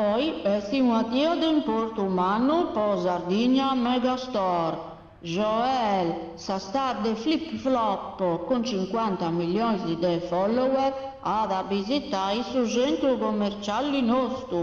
Oi est una die de importu mannu po Sardigna Megastore, Joel sa star de Flip Flop cun cincuanta millionis de follower at a bisitai su centru commerciali nostu.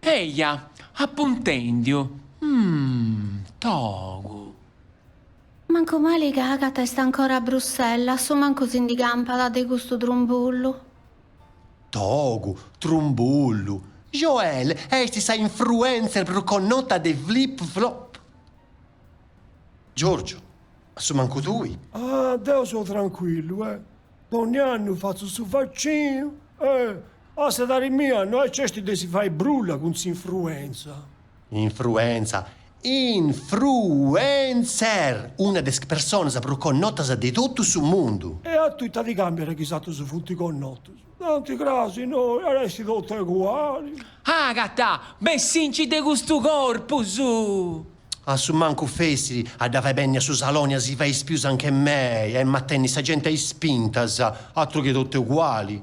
Eja, apu intèndiu, mm. Togu. Mancu mali ca Agata est ancora a Bruxelles, a su mancu si ndi campat de custu trumbullu. Togu, trumbullu. Joel est sa infruenzer prus connota de Flip Flop. Giorgio, a su mancu tui. Ah, deu so trancuillu, eh. Dònnia annu fatzu su vaccinu, eh. A s'edari mia no nc'est de si fai brulla cun s'infruenza. Infruenza. Infruencer! Una de is personas prus connotas de totu su mundu. E a tui ita ti càmbiat chi is atrus funt connotus? Tanti cras innoi at a essi totu eguali. Agata! Bessinci de custu corpus! A su mancu fessit a dda fai benni a su saloni a si fai is pius anche mei, emu a tenni sa genti a ispintas. Atru chi totu eguali.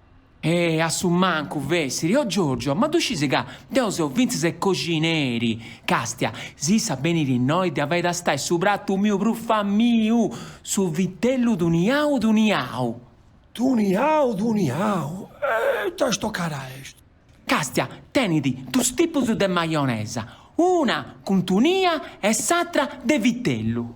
E a su mancu fessit. Oh Giorgio, ma ddu scisi ca deu seu fintzas e coxineri, castia, si issa benit innoi dd'ia a fai tastai su pratu miu prus famiu, su vitellu tuniau tuniau. Tuniau tuniau, e ita stocada est? Castia, Tenit dus tipus de maionesa, una cun tunia e s'atra de vitellu.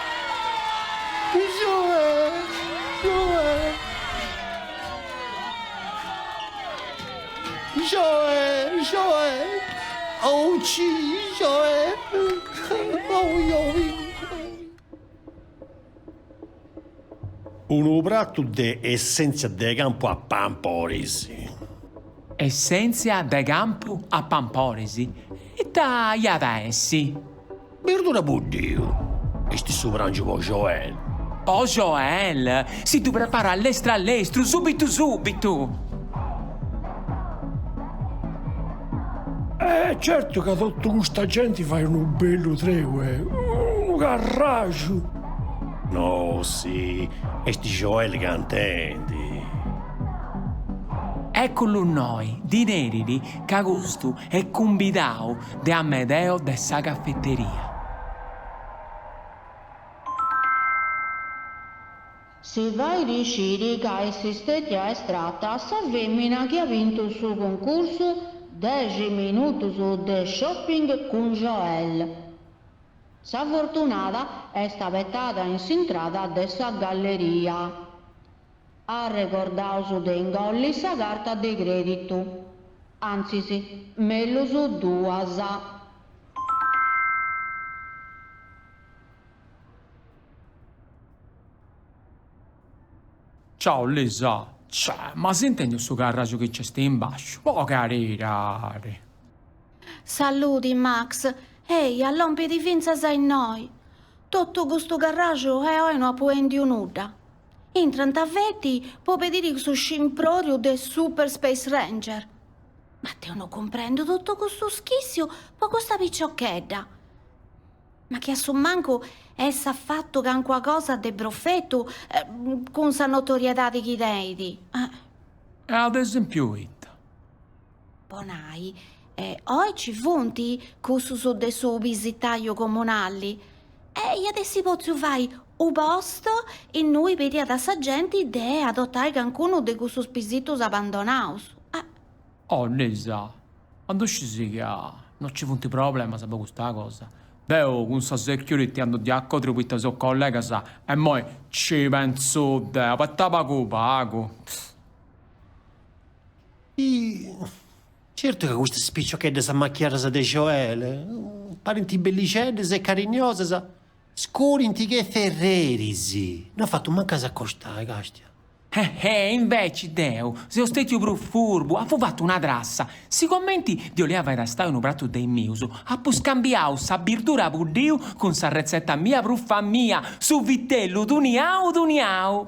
Unu pratu de essèntzia de campu a pamporis. Essèntzia de campu a pamporis, ita iat a essi? Birdura a buddiu, est su prangiu po Joel. Po Joel, si ddu preparat lestru a lestru, subitu subitu. E certu ca totu custa genti fait unu bellu treue, unu carraxu. Nossi, est Joel cantendi. Ècculu innoi, ddi nerit ca custu est cumbidau De Amedeo de sa cafeteria. Si fait sciri ca est stètia estrata sa fèmina chi at bintu su cuncursu Dexi minutos de shopping cun Joel. Sa fortunada est abetendi in s'intrada de sa galleria. Arregordaus de ingolli sa carta de crèditu. Antzis, mellus duas. Ciau Lisa, Cè, ma as intèndiu su carraju chi nc'est in bàsciu, po caridadi! Saludi, Max, Eh, lòmpit fintzas a innoi! Totu custu carraju e oi no apu èndiu nudda! Intrant feti po pediri su scimpròriu de Super Space Ranger. Ma deu no cumprendu totu custu schìssiu po custa piciochedda. Ma chi a su mancu essat fatu cancuna cosa de profetu cun sa notoriedadi chi tenit. E ad esèmpiu ita? po nai, oi ci funt cussus de su pisitaju comunali, e iat essi potziu fai unu post innui pediat a sa genti de adotai cancunu de cussus pisitus abandonaus. Eh! Oh, Lisa, ma ddu sciis ca no ci funt problemas po custa cosa? Deu cun sa security andu di acòdriu poita seus collegas imoi ci pentzu deu, abeta pagu pagu. Hi, certu ca custas piciocheddas amachiadas de Joel parint bellixeddas e cariniosas, scudint che ferreris, no at fatu mancu a s'acostai, càstia. He, he, inveci deu seu stètiu prus furbu, apu fatu una trassa, sigomenti ddi 'olia fai tastai unu pratu de is mius, apu scambiau sa birdura buddia cun s'arretzeta mia prus famìa, su vitellu tuniau tuniau!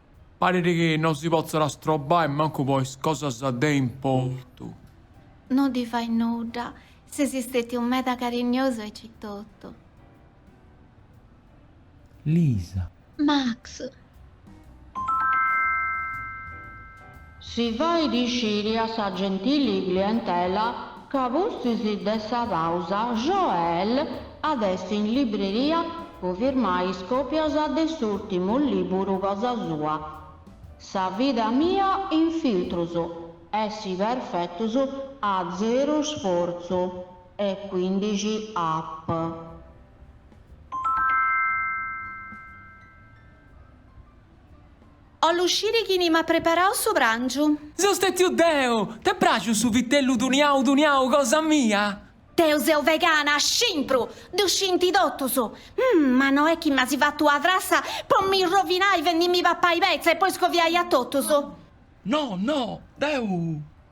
Parit chi non si potzat astrobai mancu po is cosas de importu. No ddi fait nudda, ses stètiu meda cariniosu aici etotu. Lisa. Max. Si fait sciri a sa gentili clientela ca pustis de sa pausa Joel at essi in libreria po firmai is còpias de s'ùrtimu lìburu cosa sua, Sa vida mia in filtrus, Essi perfetus a zeru sfortzu e cuindixi app. 'ollu usciri chini m'at preparau su prangiu. Seu stetiu deu! T'est praxiu su vitellu duniau duniau cosa mia? Deu seu vegana, scimpru! Ddu scinti totus! Umm! Ma no est chi m'asi fatu una frassa po mi rovinai fendimmi papai petza e poi scoviai a totus? No, no! Deu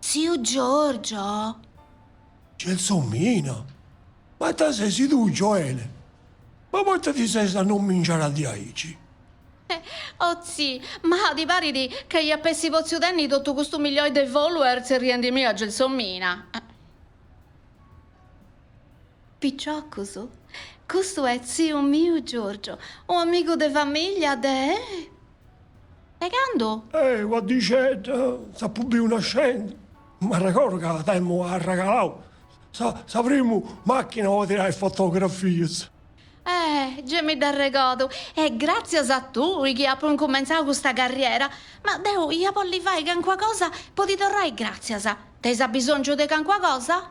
Tziu Giorgio? Gelsomina, ma ita sesi tui, Gioele? Ma poita ti ses annomingiara diaici? O tzi, ma ti parit ca iap'essi potziu tenni totu custu milioi de follower tzerriendi mi a Gelsomina? Picioccus, custu est tziu miu Giorgio, u amigu de famiglia de. De candu? Eh, una dixedda, t'apu biu nascendi. M'arregordu ca t'emu arregalau sa primu machina po tirai fotografias. Eh, gei mi dd'arregodu. Est gratzias a tui chi apu incumentzau custa carriera. Ma deu ia bolli fai cancuna cosa po ti torrai gratzias. Teis abisongiu de cancuna cosa?